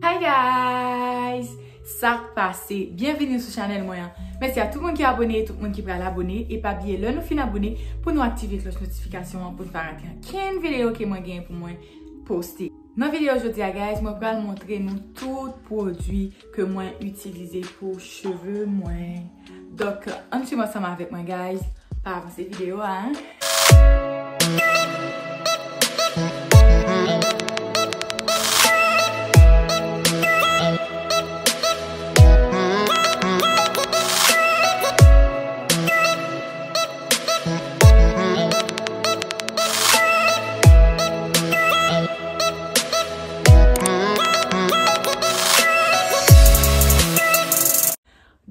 Hi guys! Sak pase? Byenveni sou chanèl mwen an. Mèsi a tout moun ki abone, tout moun ki pral abone. E pa bliye lè nou fin abone pou nou aktive klòch notifikasyon an pou n pa rate ankenn videyo ke mwen gen pou mwen poste. Nan video jodi a guys mwen pral montre nou tout pwodwi ke mwen itilize pou cheve mwen Donk ann swiv ansanm avèk mwen guys pa avanse video a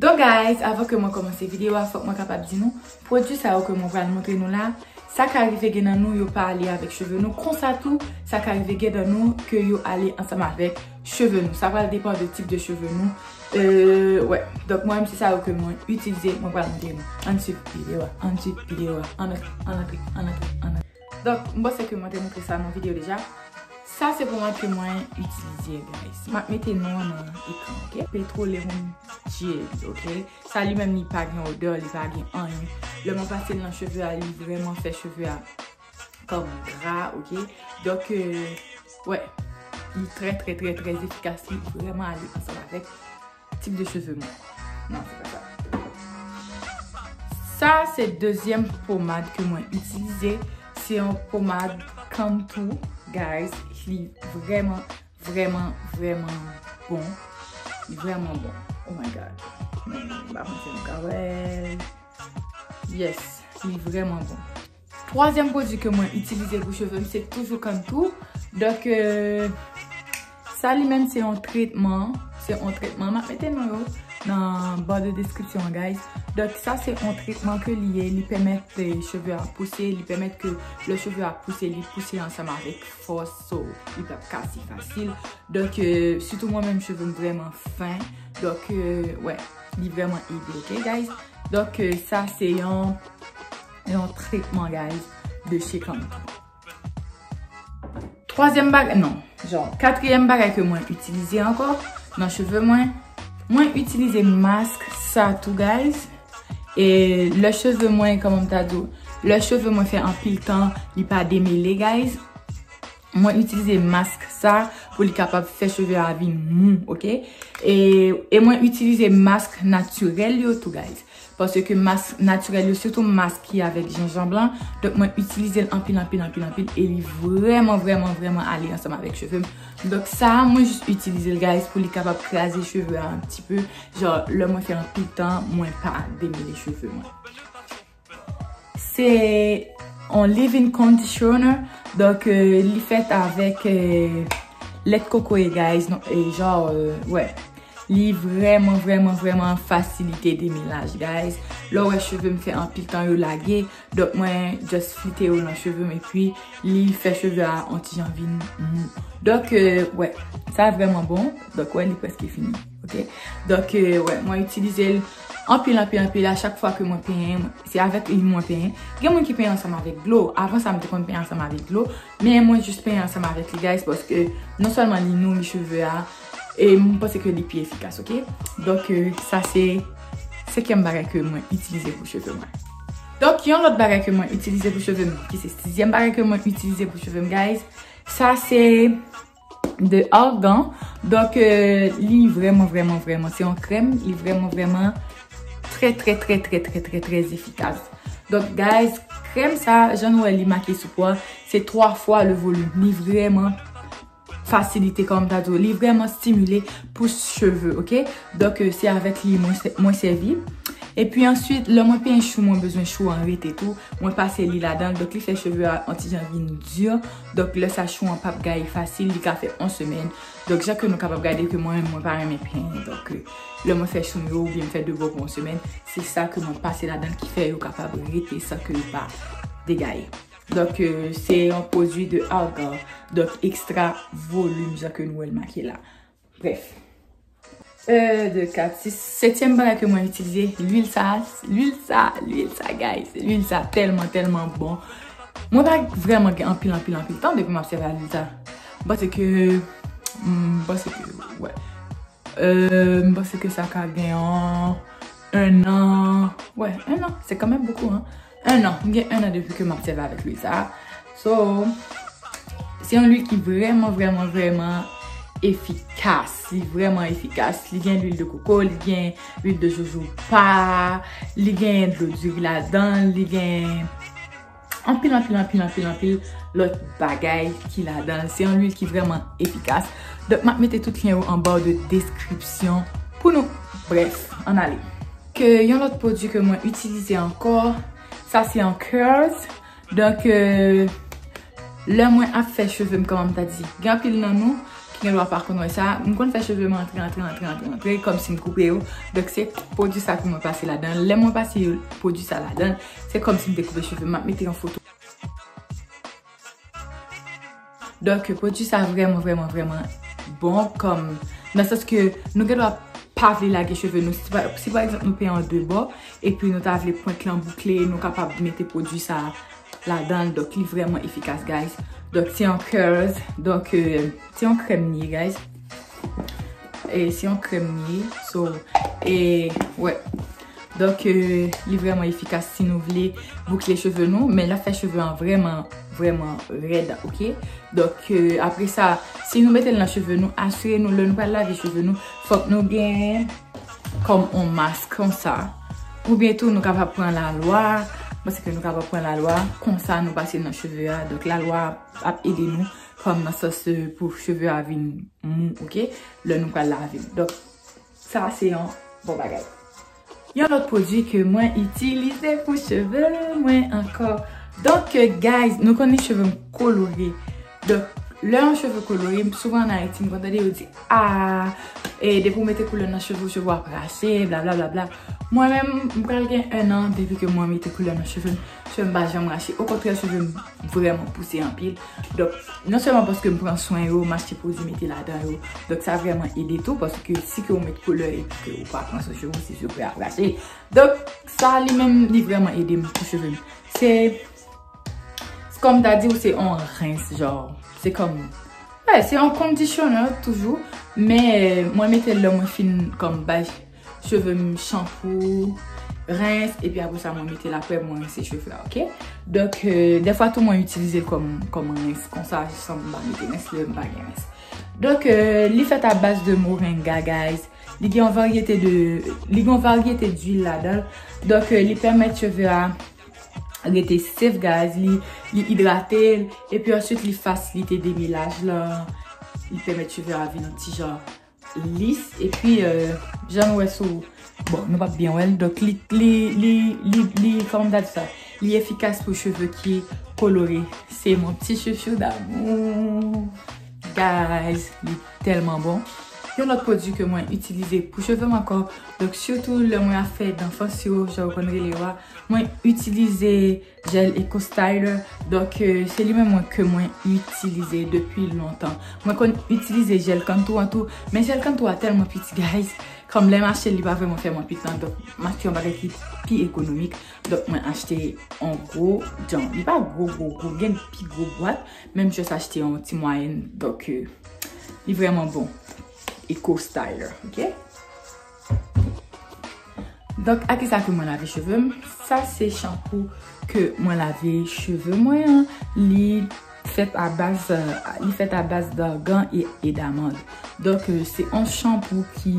Donk guys, avan ke mwen komanse video a, fok mwen kapab di nou, pwodwi sa yo ke mwen pral montre nou la, sa ka rive gen nan nou yo pa ale avek cheve nou, konsa tou, sa ka rive gen nan nou ke yo ale ansanm avek. cheve nou. Sa pral depan de tip de cheve nou. Euh, wè. Donk mwen se sa yo ke mwen itilize, mwen pral montre nou. An swiv videyo a, an swiv videyo a. An antre, an antre, an antre, an antre. Donk, m panse ke mwen te montre sa nan videyo deja. Sa se pou mwen ke mwen itilize, guys. M ap mete non an nan ekran, ok? Petroleum Gel, ok? Sa li menm li pa gen odeur, li pa gen anyen. Lè mwen pase l nan cheve a, li vreman fè cheve a. Kom gra ok. Donk wè. Li trè trè trè trè efikas. Li vreman ale ansanm avèk tip de cheve mwen. Non se pa sa. Sa se dezyèm pomad ke mwen itilize. Se yon pomad come to guys. Li vreman vreman vreman bon. Li vreman bon. Oh my god. Mwen pa panse nou ka wèl. Yes. Li vreman bon. Twazyèm pwodwi ke mwen itilize pou cheve m se toujou kann tou. Donk, sa li menm se yon tretman. Se yon tretman. M ap mete non yo nan ba de deskripsyon an guys. Donk, sa se yon tretman ke li ye. Li pèmèt cheve a pouse. Li pèmèt ke lè cheve a pouse, li pouse ansanm avèk fòs. So, li pa p kase fasil. Donk, sitou mwen menm cheve m vrèman fen. Donk, wè. Li vrèman ede. Ok guys? Donk, sa se yon. Yon tretman guys de chez Canva. Twazyèm bagay, non, jan, katriyèm bagay ke mwen itilize ankò nan cheve mwen, mwen itilize mask sa tou guys. E lè cheve mwen, kòman m ta di ou, lè cheve mwen fè anpil tan li pa demele guys, mwen itilize mask sa pou li kapab fè cheve a vin mou, ok. E mwen itilize mask natirèl yo tou guys. Paske mask natirèl yo sitou mask ki avèk jenjanb lan, donk mwen itilize l anpil anpil anpil anpil e li vrèman vrèman vrèman ale ansanm avèk cheve m. Donk sa a mwen jis itilize l guys pou li kapab kraze cheve a anti peu, jan lè mwen fè anpil tan mwen pa demele cheve mwen. Se yon leave in conditioner, donk li fèt avèk lèt kokoye guys, donk jan wè. Li vreman vreman vreman fasilite deminaj guys. Lè ou wè cheve m fè anpil tan yo lage, donk mwen just flite yo nan cheve m epi li fè cheve a on ti jan vin mou. Donk wè, sa vreman bon. Donk wè li preske fini. Ok. Donk wè, mwen itilize l anpil anpil anpil a chak fwa ke mwen penyen. Se avèk li mwen penyen. Gen moun ki penyen ansanm avèk dlo. Avan sa m te konn penyen ansanm avèk dlo. Men mwen jis penyen ansanm avèk li guys paske non sèlman li nouri cheve a e mwen panse ke li pi efikas ok. Donk sa se senkyèm bagay ke mwen itilize pou cheve mwen. Donk yon lòt bagay ke mwen itilize pou cheve m ki se sizyèm bagay ke mwen itilize pou cheve m guys sa se. de argan donk li vreman vreman vreman se yon krèm li vreman vreman trè trè trè trè trè trè trè efikas donk guys krèm sa jan nou wè li make sou po a se 3 fwa le volim li vreman fasilite kòm ta di w li vreman stimile pou cheve ok donk se avèk li mwen sèvi epi answit lè mwen penyen chou mwen bezwen chou an rete tou mwen pase li ladan donk li fè cheve a yon ti jan vin di Donk lè sa chou an pap gaye fasil li ka fè on semèn. Donk jan ke nou kapab gade ke mwen menm mwen pa renmen pen. Donk lè mwen fè chou m yo oubyen m fè devo pou on semèn, se sa ke mwen pase ladan l ki fè yo kapab rete san ke yo pa degaye. Donk se yon pwodui de argan. Donk ekstra volim jan ke nou wè l make la. Bref. Euh, de kat. Si setyèm bagay ke mwen itilize, l'huile sa, l'huile sa, l'huile sa guys. L'huile sa tèlman, tèlman bon. Mwen pa vreman gen anpil, anpil, anpil tan depi map sèvi ak l'huile sa. M'panse ke, m'panse ke, wè. Euh, m'panse ke sa ka gen an, un an, wè, un an. Se kanmèm bokou an. 1 an, m gen 1 an depi ke map sèvi avèk lwil sa. So, se yon lwil ki vreman, vreman, vreman efikas. Li vreman efikas. Li gen lwil de koko, li gen lwil de jojoba, li gen dlo diri la dan, li gen anpil, anpil, anpil, anpil, anpil lòt bagay ki la dan. Se yon lwil ki vreman efikas. Dok map mete tout lyen yo anba ou de deskripsyon pou nou. Bref, an ale. Ke yon lòt pwodwi ke mwen itilize ankò, sa se yon curls. Donk, lè mwen ap fè cheve m, kòman m ta di? Gen anpil nan nou ki gen dwa pa konn wè sa. M konn fè cheve m antre, antre, antre, antre, antre, kòm si m koupe yo. Donk, se pwodwi sa ke mwen pase ladan. Lè mwen pase pwodwi sa ladan, se kòm si m te koupe cheve m. M ap mete yon foto. Donk pwodui sa vreman vreman vreman bon kom nan sans ke nou gen dwa pa vle lage cheve nou. Si pa egzanp nou peyan de bò epi nou ta vle pwent lan boukle nou kapab mete pwodui sa ladan. Donk li vreman efikas guys. Donk se yon curls. Donk se yon krem li ye guys. E se yon krem li ye. So e wè. Donk li vreman efikas si nou vle boukle cheve nou men la fè cheve an vreman vreman red ok. Donk apre sa si nou metel nan cheve nou asire nou lè nou pral lave cheve nou fòk nou gen kòm on mas konsa. Ou byen tou nou kapab pran la lwa paske nou kapab pran la lwa konsa nou pase nan cheve a donk la lwa ap ede nou kòm nan sòs pou cheve a vin mou ok lè nou pral lave. Sa se yon bon bagay. Yon lòt pwodwi ke mwen itilize pou cheve mwen ankò. Donk guys, nou konnen cheve m kolore. Donk, lè yon cheve kolore, souvan an Ayiti m konn tande yo di, aah, e depi ou mete koulè nan cheve ou, cheve ou ap rache, bla bla bla bla. Mwen menm, m pral gen 1 an depi ke mwen mete koulè nan cheve m. cheveux m pa janm rache okontrè cheveux m vrèman pouse anpil donk non sèlman paske m pran swen yo m achte pwodui mete ladan yo donk sa vrèman ede tou paske si ke ou met koulè epi ke ou pa pran swen cheveux ou se cheveux ou ap rache donk sa li menm li vrèman ede m pou cheveux m se kòm m ta di ou se yon rens jò se kòm se yon kondisyoner toujou men mwen mete lè mwen fin kòm bay cheveux Cheve m chanpou, rens, epi apre sa mwen mete l apre mwen rense cheve a, ok? Donk, defwa tou mwen itilize l kòm rens, konsa san m pa mete rens, lè m pa gen rens. Donk, li fèt a baz de morenga, guys. Li gen yon varyete de, li gen yon varyete d'huil ladan l. Donk, li pèmèt cheve a rete sèf, guys. Li idrate l, epi answit li fasilite demilaj lan. Li pèmèt cheve a vin ti jan. Lis epi jan nou wè sou bon nou pap byen wèl donk li li li li li kòman m ta di sa li efikas pou cheve ki kolore se mon pti chouchou damou guys li tèlman bon yon lòt pwodui ke mwen itilize pou cheve m ankò donk sitou lè mwen ap fè danfans yo jan yo konn rele yo a mwen itilize Jèl Eco Styler, donk se li menm mwen ke mwen itilize depi lontan. Mwen konn itilize jèl kantou an tou, men jèl kantou a tèlman piti guys, kòm lèm achetel li pa vrèman fè mwen piti an, donk m achte yon bagay ki pi ekonomik, donk mwen achte yon gwo jan, li pa gwo gwo gwo, gen pi gwo bwat, men m just achte yon ti mwayèn, donk li vrèman bon, Eco Styler, ok. Donk a kisa ke mwen lave cheve m? Sa se shampoo ke mwen lave cheve mwen an. Li fèt a baz, li fèt a baz d'argan e d'amande. Donk se yon shampoo ki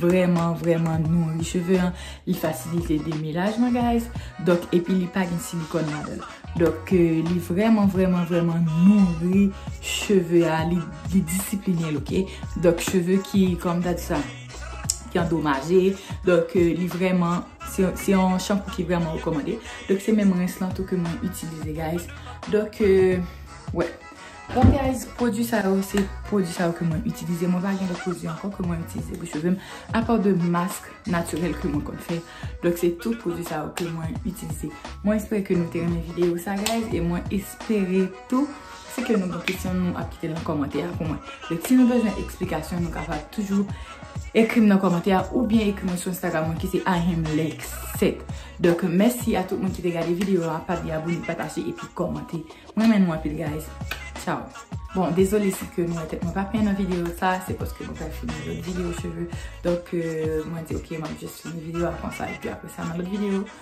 vreman, vreman nouri cheve an. Li fasilite demelaj lan guys. Donk epi li pa gen silikòn ladan l. Donk li vreman, vreman, vreman nouri cheve a. Li disipline l ok. Donk cheve ki, kòm ta di sa. ki andomaje, donk li vreman, se yon shampoo ki vreman rekomande, donk se menm rens lan tou ke mwen itilize guys, donk wè, bon guys, pwodwi sa yo, se pwodwi sa yo ke mwen itilize, mwen pa gen lòt pwodwi ankò ke mwen itilize pou cheve m, apaw de mask natirèl ke mwen konn fè, donk se tout pwodwi sa yo ke mwen itilize, mwen espere ke nou te renmen videyo sa guys, e mwen espere tou. Si ke nou gen kesyon nou ap kite nan kòmantè a pou mwen. Donk si nou bezwen eksplikasyon nou kapab toujou ekri m nan kòmantè a oubyen ekri mwen sou Instagram mwen ki se IamLexCet. Donk mèsi a tout moun ki te gade videyo a. Pa bliye abone, pataje epi kòmante. M renmen nou anpil guys. Ciao. Bon dezole si ke nou wè tèt mwen pa fè nan videyo sa. Se paske mwen pral filme lòt videyo cheve. Donk mwen di ok m ap jis fini videyo a konsa epi apresa nan lòt videyo.